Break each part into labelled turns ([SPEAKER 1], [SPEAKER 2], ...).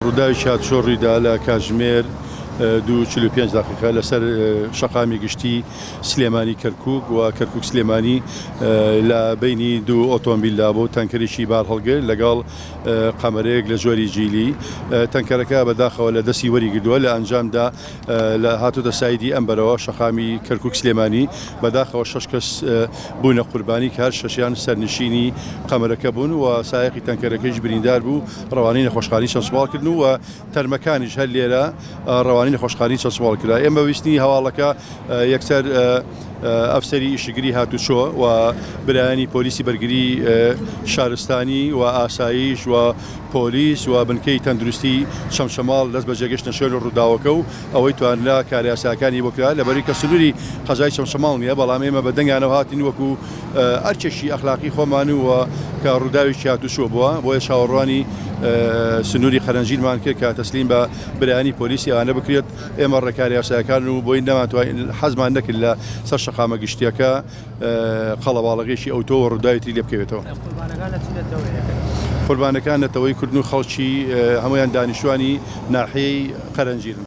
[SPEAKER 1] ڕووداوی شادشۆڕیدا لە کاتژمێر دو چل و پێنج دقیقە لەسەر شەقامی گشتی سلێمانی کەرکک و کەرکک سلێمانی لە بینی دوو ئۆتۆمبیلدا بۆ تەنکەرێکی بار هەڵگر لەگەڵ قەمەرەیەک لە جۆری جیلی تەنکەرەکە بەداخەوە لە دەستی وەریگردووە لە ئەنجامدا لە هاتوتە سایدی ئەم بەرەوە شەقامی کەرکک سلێمانی بەداخەوە شش کەس بوونە قوربانی کار شەشیان سەرنشینی قەمەرەکە بوون و سایقی تەنکەرەکەیش بریندار بوو ڕەوانەی نەخۆشخانی چەسوباڵ کردن و تەرمەکانیش هەر لێرە ڕەوانەی نەخۆشخانەی چەشماڵ کرا. ئێمە بە ویستنی هەواڵەکە یەکسەر ئەفسەری ئیشکگری هاتوچۆ و برایانی پۆلیسی بەرگری شارستانی و ئاساییش و پۆلیس و بنکەی تەندروستی چەمچەماڵ دەست بەجێ گەشتنە شوێن ڕووداوەکە و ئەوەی توانرا کارە یاسایەکانی بۆ کرا لەبەرئەوەی کە سنووری قەزای چەمچەماڵ نییە بەڵام ئێمە بە دەنگانەوە هاتین وەکوو ئەرکێکی ئەخلاقی خۆمانی و کە ڕووداوێکی هاتوچۆ بووە بۆیە چاوەڕوانی سنووری قەرەنجیرمان کرد کە تەسلیم بە برانی پۆلیسی ئەوانە بکرێت ئێمە ڕێکار یاساکان و بۆی نەماتوای حەزمان نەکرد لە سەر شەقامە گشتیەکە قەڵەواڵەکەیشی ئەوتۆ و ڕووداوێتی لێ بکەوێتەوە قوربانەکان نەتەوەی کوردن و خەڵکی هەمویان دانیشتوانی ناحەی قەرەنجیرن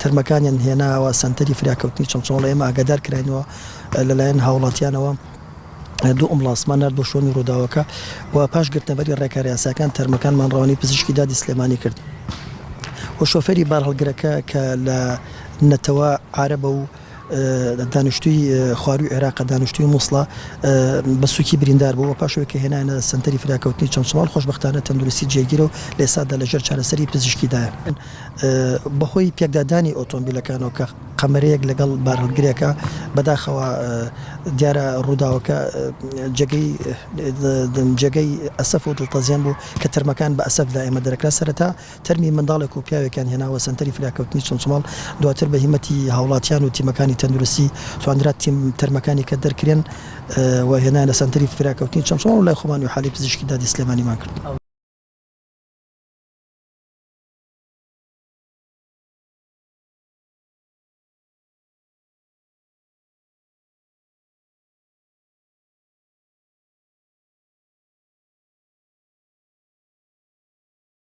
[SPEAKER 2] تەرمەکانیان هێناوە سەنتەری فریاکەوتنی چەمچەماڵ، ئێمە ئاگادار کراینەوە لەلایەن هاوڵاتیانەوە دوو ئەمبوڵانسمان نارد بۆ شوێنی ڕووداوەکە و پاش گرتنەبەری ڕێکارە یاسایەکان تەرمەکانمان ڕەوانەی پزیشکی دادی سلێمانی کرد و شۆفێری بارهەڵگرەکە کە لە نەتەوە عارەبە و دانیشتووی خوارووی عێراقە، دانیشتووی موسڵە، بە سووکی بریندار بوو و پاش ئەوەی کە هێنایانە سەنتەری فریاکەوتنی چەمچەماڵ، خۆشبەختانە تەندروستی جێگیرە و لە ئێستادا لە ژێر چارەسەری پزیشکیدایە. بەهۆی پێکدادانی ئۆتۆمبیلەکانەوە کە قەمەرەیەک لەگەڵ بارهەڵگرێکە، بەداخەوە دیارە ڕووداوەکە جێگەی ئەسەف و دڵتەزێن بوو کە تەرمەکان بە ئەسەفدا ئێمە دەرکرا، سەرەتا تەرمی منداڵێک و پیاوێکیان هێناوە سەنتەری فریاکەوتنی چڵچڵاڵ، دواتر بە هیمەتی هاوڵاتیان و تیمەکانی تەندروستی توانرا تیم تەرمەکانی کە دەرکرێن و هێنایانە سەنتەری فریاکەوتنی چڵچڵاڵ و لای خۆمان ئیحالەی پزیشکی دادی سلێمانیمان کرد.